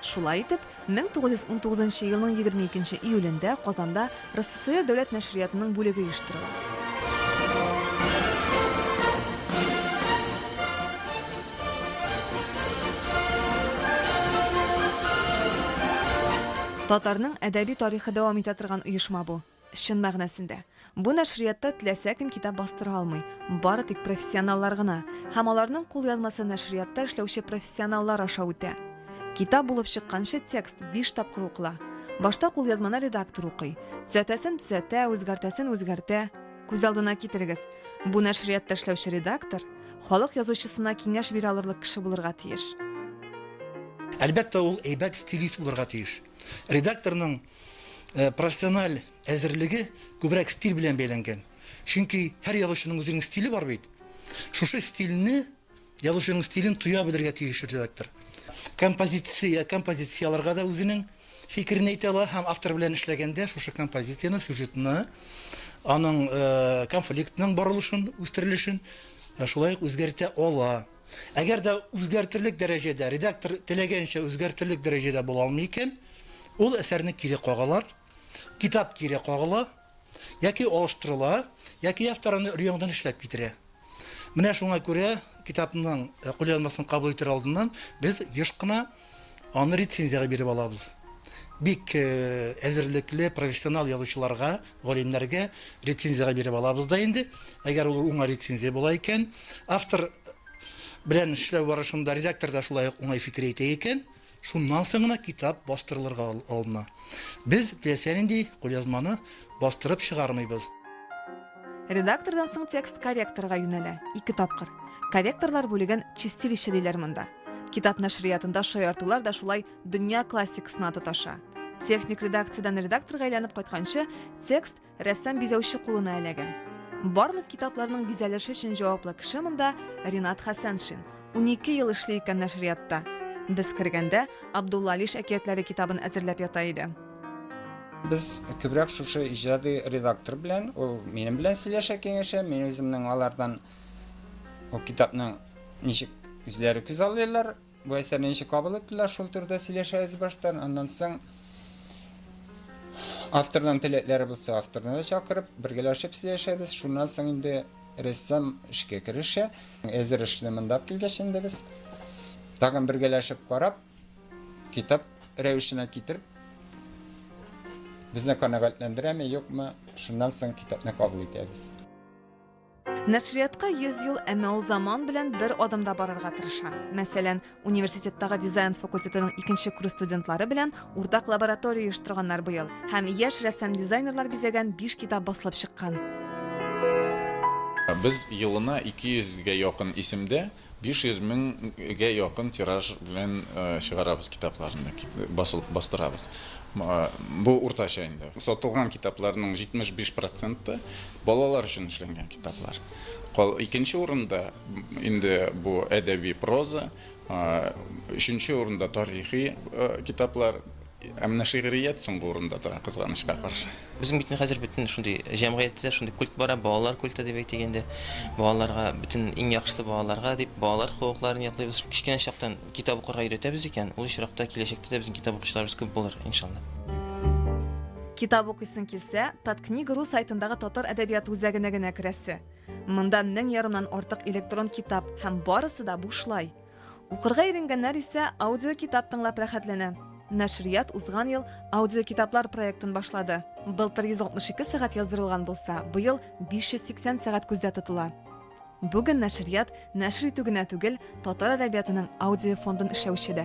Шулай итеп, 1919 елның 22 июлендә Казанда РСФСР дәүләт нәшриятының бүлеге оештырыла. Татарның әдәби тарихы дәвам итә торган оешма бу. Чын мәгънәсендә, бу нәшриятта теләсә кем китап бастыра алмый, бары тик профессионаллар гына, һәм аларның кулъязмасы нәшриятта эшләүче профессионаллар аша үтә. Китап булып чыкканчы текст биш тапкыр укыла. Башта кулъязманы редактор укый. Төзәтәсен төзәтә, үзгәртәсен үзгәртә. Күз алдына китерегез, бу нәшриятта эшләүче редактор халык язучысына киңәш бирә алырлык кеше булырга тиеш. Әлбәттә, ул әйбәт стилист булырга тиеш. Редакторның э, профессиональ әзерлеге күбрәк стиль белән бәйләнгән. Чөнки һәр язучының үзенең стиле бар бит. Шушы стильне, язучының стилен тоя белергә тиеш редактор. Композиция, композицияләргә дә үзенең фикерен әйтә ала һәм автор белән эшләгәндә шушы композицияне, сюжетны, аның э, конфликтның барылышын, үстерелешен э, шулай ук үзгәртә ала. Әгәр дә үзгәртерлек дәрәҗәдә, редактор теләгәнчә үзгәртерлек дәрәҗәдә була алмый икән, ул әсәрне кире кагалар, китап кире кагыла, яки алыштырыла, яки автор аны өр-яңадан эшләп китерә. Менә шуңа күрә китапның кулъязмасын кабул итәр алдыннан без еш кына аны рецензиягә биреп алабыз. Бик әзерлекле, профессионал язучыларга Галимнәргә рецензиягә биреп алабыз да инде. Әгәр ул уңай рецензия була икән, автор белән эшләү барышында редактор да шулай ук уңай фикер әйтә икән, шуннан соң гына китап бастырылырга алына. Без теләсә нинди кулъязманы бастырып чыгармыйбыз. Редактордан соң текст корректорга юнәлә, ике тапкыр. Корректорлар бүлеген чистилище диләр монда. Китап нәшриятында шаяртулар да шулай Дөнья классикасына тоташа. Техник редакциядән редакторга әйләнеп кайтканчы, текст рәссам бизәүче кулына эләгә. Барлык китапларның бизәлеше өчен җаваплы кеше монда Ринат Хәсәншин. 12 ел эшли икән нәшриятта. Без кергәндә Абдулла Алиш әкиятләре китабын әзерләп ята иде. Без күбрәк шушы иҗади редактор белән, ул минем белән сөйләшә, киңәшә, мин үземнең алардан ул китапның ничек үзләре күзаллыйлар, Бу әсәрне ничек кабул иттеләр, шул турыда сөйләшәбез баштан. Аннан соң авторның теләкләре булса, авторны да чакырып, бергәләшеп сөйләшәбез. Шуннан соң инде рәссам эшкә керешә. Әзер эшне монда алып килгәч инде без тагын бергәләшеп карап, китап рәвешенә китереп, безне канәгатьләндерәме, юкмы, шуннан соң китапны кабул итәбез. Нәшриятка 100 ел, әмма ул заман белән бер адымда барырга тырыша. Мәсәлән, университеттагы дизайн факультетының икенче курс студентлары белән уртак лаборатория оештырганнар быел һәм яшь рәссам-дизайнерлар бизәгән биш китап басылып чыккан. Без елына 200 гә якын исемдә 500 меңгә якын тираж белән чыгарабыз китапларны, басылып бастырабыз. Бу уртача инде. Сатылган китапларның 75 проценты балалар өчен эшләнгән китаплар. Икенче урында инде бу әдәби проза, өченче урында тарихи китаплар. Ә менә шигърият соңгы урында тора, кызганычка каршы. Безнең бит хәзер бөтен шундый җәмгыятьтә шундый культ бара, балалар культы дип әйтик инде. Балаларга бөтен иң яхшысы балаларга дип балалар хокукларын яклыйбыз. Кечкенә чактан китап укырга өйрәтәбез икән, ул очракта киләчәктә дә безнең китап укучыларыбыз күп булыр, иншалла. Китап укыйсың килсә, Таткнига.ру сайтындагы татар әдәбияты үзәгенә генә керәсе. Монда мең ярымнан артык электрон китап һәм барысы да бушлай. Укырга иренгәннәр исә аудиокитап тыңлап рәхәтләнә. Нәшрият узган ел аудиокитаплар проектын башлады. Былтыр 162 сәгать яздырылган булса, быел 580 сәгать күздә тотыла. Бүген нәшрият нәшер итү генә түгел, татар әдәбиятының аудиофондын эшләүче дә.